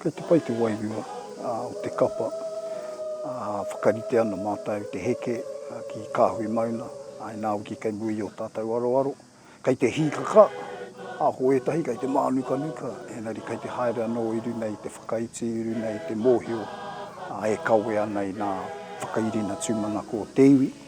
Kia tapa i te wairua o te kapa, whakarite ana mātou te heke ki Kāhui Mauna, ā, inā hoki kei mua i ō tātou aroaro. Kei te hīkaka, ā, ko ētahi kei te mānukanuka, engari kei te haere anō i runga i te whakaiti, i runga i te mōhio e kawea ana i ngā whakairina tūmanako o te iwi.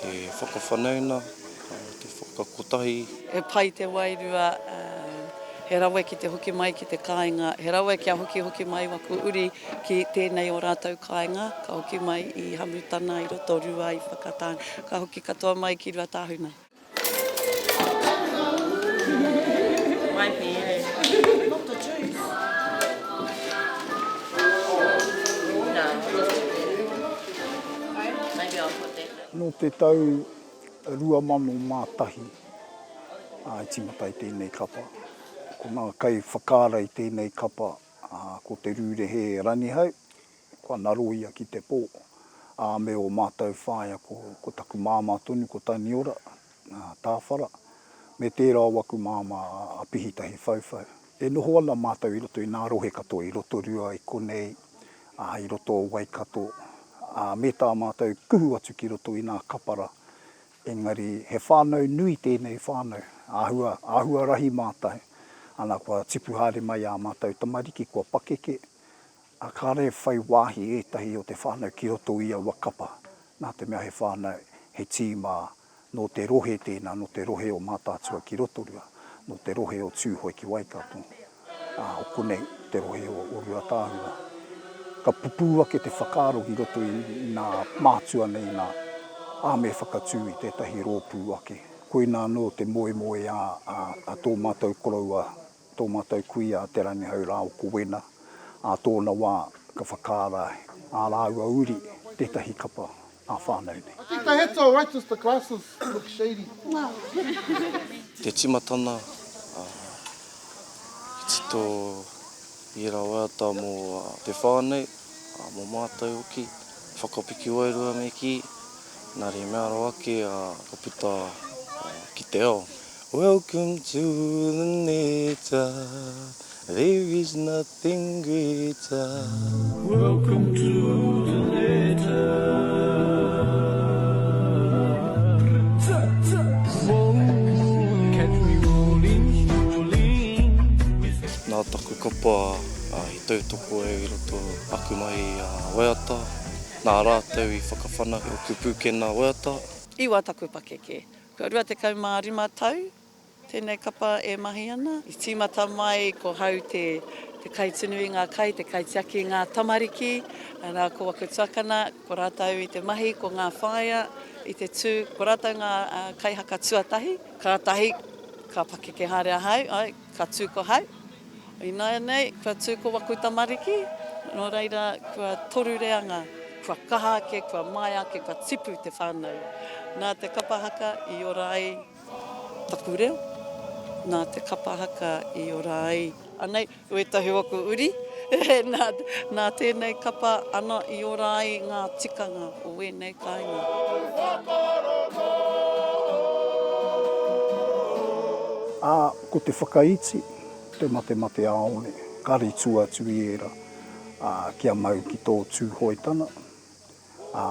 Te whakawhanauna, te whakakotahi. He pai te wairua, he rawe ki te hoki mai ki te kāinga, he rawe kia hokihoki mai waku uri ki tēnei o rātou kāinga, ka hoki mai i Hamutana, i Rotorua, i Whakatane, ka hoki katoa mai ki Ruatāhuna. Nō te tau 2001 i tīmata ai tēnei kapa. Ko ngā kaiwhakaara i tēnei kapa ko Te Rūrehe Rangihau, Kua ngaro ia ki te pō, ā, me ō mātou whaea ko, ko taku māmā tonu ko Taniora, ā, Tāwhara, me tērā o aku māmā a, a Pihitahi Whauwhau. E noho ana mātou i roto i ngā rohe katoa i Rotorua, i konei, ā, i roto o Waikato, ā, me tā mātou kuhu atu ki roto i ngā kapara, engari he whānau nui tēnei whānau, āhua, āhua rahi mātou, ana kua tipu haere mai ā mātou tamariki, kua pakeke, A kare e whai wāhi ētahi o te whānau ki roto i aua kapa, nā te mea he whānau, he tīma, nō te rohe tēnā, nō te rohe o Mātaatua ki Rotorua, nō te rohe o Tūhoe ki Waikato, ā, o konei te rohe o Ruatāhua. Ka pupū ake te whakaaro ki roto i nā mātua nei nā, ā, me whakatū i tētahi rōpū ake. Koinā anō te moemoeā a tō mātou koroua Tō mātou kuia a Te Rangihau rā o Kowena, ā tōna wā ka whakaara ā rāua uri tētahi kapa ā whānau nei. Te tīmatana, ā, i tito i ērā waiata mō te whānau, ā, mō mātou hoki, whakapiki wairua me kī, nā reira me aro ake, ā, ka puta ki te ao. Welcome to the neta There is nothing greater Welcome to the neta Nā taku kapa i tautoko au i roto aku mai i a Waiata, nā rātou i whakawhanake oku pūkena Waiata. Iwa taku pakeke. Kua 25 tau tēnei kapa e mahi ana. I tīmata mai ko hau te kaitunu i ngā kai, te kaitiaki i ngā tamariki. Nā, ko aku tuakana, ko rātou i te mahi, ko ngā whaea i te tū, ko rātou ngā kaihaka tuatahi. Kātahi ka pakeke haere ahau, Ka tū ko Hau. Ināianei, kua tū ko waku tamariki. Nō reira, kua toru reanga, kua kaha ake, kua māia ake, kua tipu te whānau. Nā te kapa haka i ora ai taku reo, nā te kapa haka i ora ai. Anei, wētahi o aku uri. Nā tēnei kapa ana i ora ai ngā tikanga. o wēnei kāinga. Ā, ko te whakaiti, te matemate āole, karetu atu i ērā, ā, kia mau ki tō Tūhoetana, ā,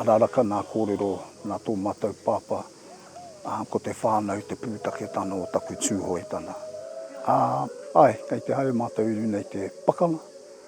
araraka nā kōrero, nā tō mātou Pāpā, ā, ko te whānau te pūtaketanga o taku Tūhoetana. Ā, āe, kei te haere mātou i runei te pakanga,